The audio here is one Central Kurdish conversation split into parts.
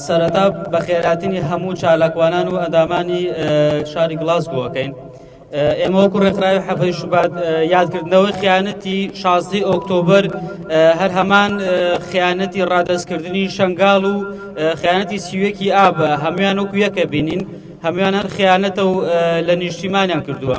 سەرەتا بەخێرهاتنی هەموو چالاکوانان و ئەندامانی شاری گڵاسگۆکەین ئێمە وەکو ڕێکخراوی حەفەی شوبات یادکردنەوەی خیانەتی شازدەی ئۆکتۆبر هەر هەمان خیانەتی ڕادەستکردنی شنگال و خیانەتی سیوەکی ئاب هەمویان وەکو یەکە بینین هەمویان هەر خیانەتە و لە نیشتیمانیان کردووە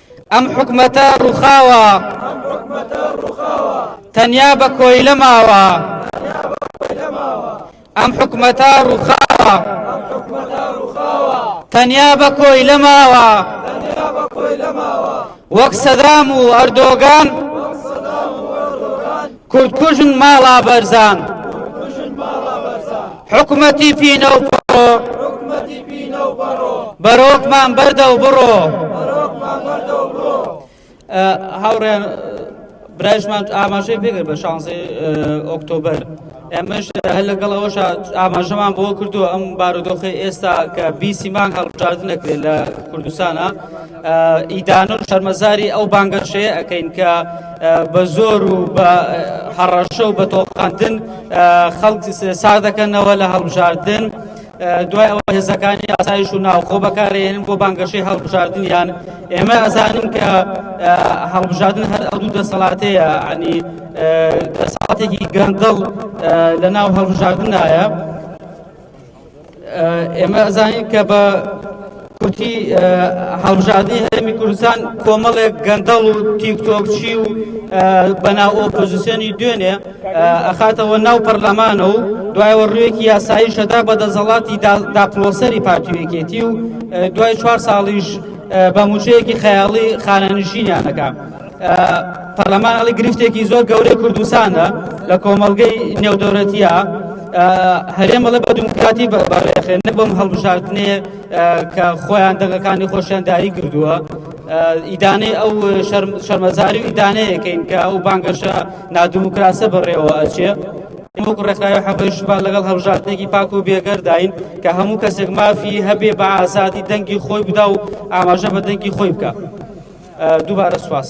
ئەم حکومەتە ڕوخاوە تەنیا بە کۆیلە ماوە ئەم حکومەتە ڕوخاوە تەنیا بە کۆیلە ماوە وەک سەدام و ئەردۆگان کورد کوژن ماڵا بەرزان حکومەتی پینە و پڕۆ بەرۆکمان بەردە و بڕۆ هاوڕێن برایشمان ئاماژەی پێگر بە شانزی ئۆکتۆبر ئەمەش هەر لەگەڵ ئەوش ئاماژەمان بۆ کردو ئەم بارودۆخی ئێستا کە بیسی مانگ هەڵبژاردن نەکرێت لە کوردستانە ئیدانە و شەرمەزاری ئەو بانگەشەیە ئەەکەین کە بە زۆر و بە هەڕەشە و بە تۆقاندن خەڵک سا دەکەنەوە لە هەڵبژاردن. دوای ئەوە هێزەکانی ئاسایش و ناوخۆ بەکارێن بۆ بانگەشەی هەڵبژاردنیان ئێمە ئەزانین کە هەڵبژاردن هەر ئەو دوو دەسەڵاتەیە عنی دەسەڵاتێکی گەندڵ لە ناو هەڵبژاردنایە. ئێمە ئەزانین کە بە کوتی هەڵبژاردنی هەرێمی کوردستان کۆمەڵێک گەندەڵ و تیکتۆکچی و بەناو ئۆپۆزیسیۆنی دوێنێ ئەخاتەوە ناو پەرلەمانە و دوایەوە ڕوێکی یاسایی شەدا بە دەسەڵاتی داپلۆسەری پارتیوێکێتی و دوای چوار ساڵیش بە موچەیەکی خەیاڵی خانەنشینیانەکە. پەرلەمان ئەڵی گرفتێکی زۆر گەورەی کوردستانە لە کۆمەڵگەی نێودەورەتیە هەرێم بەڵێ بە دموکراتی بەڕێخێن نە بەم هەڵبژاردنێ کە خۆیان دەگەکانی خۆشیان داری کردووە ئیدانەی ئەو شەرمەزاری و ئیدانەیەکەین کە ئەو بانگەشە نادموکراسە بەڕێوە ئەچێ وەکو ڕێکخراوی حەقی ژنان لەگەڵ هەڵبژاردنێکی پاک و بێگەرداین کە هەموو کەسێک مافی هەبێ بە ئازادی دەنگی خۆی بدا و ئاماژە بە دەنگی خۆی بکە دووبارە سوپاس.